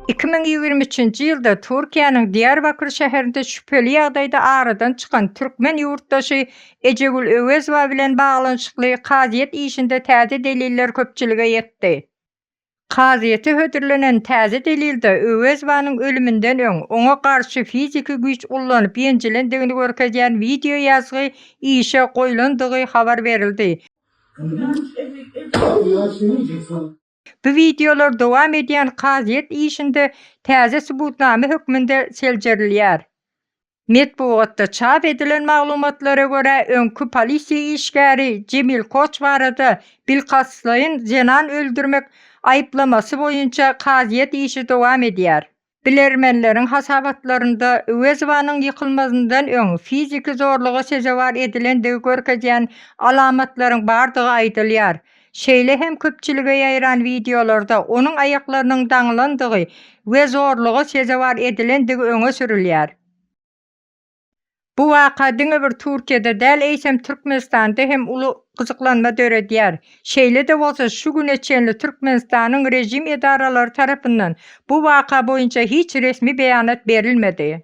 Iki müň ýigrimi üçünji ýylda Türkiýäniň Diýarbakr şäherinde şübheli ýagdaýda aradan çykan türkmen ýurtdaşy Ejegül Öwezowa bilen baglanyşykly kazyýet işinde täze deliller köpçülige ýetdi. Kazyýete hödürlenen täze delilde Öwezowanyň ölüminden öň oňa garşy fiziki güýç ullanyp ýenjilendigini görkezýän wideoýazgy işe goýlandygy habar berildi. Bu wideolar dowam edýän kazyýet işinde täze subutnama hökmünde seljerilýär. Metbugatda çap edilen maglumatlara görä, öňki polisiýa işgäri Jemil Koç barada bilkastlaýyn zenan öldürmek aýyplamasy boýunça kazyýet işi dowam edýär. Bilermenleriň hasabatlarynda Öwezowanyň ýykylmazyndan öň fiziki zorluga sezewar edilendigi görkezýän alamatlaryň bardygy aýdylýar. Şeýle hem köpçülige ýaýran wideolarda onuň aýaklarynyň daňylandygy we zorluga sezewar edilendigi öňe sürülýär. Bu waka diňe bir Türkiýede däl, eýsem Türkmenistanda hem uly gyzyklanma döredýär. Şeýle-de bolsa, şu güne çenli Türkmenistanyň režim edaralary tarapyndan bu waka boýunça hiç resmi beýanat berilmedi.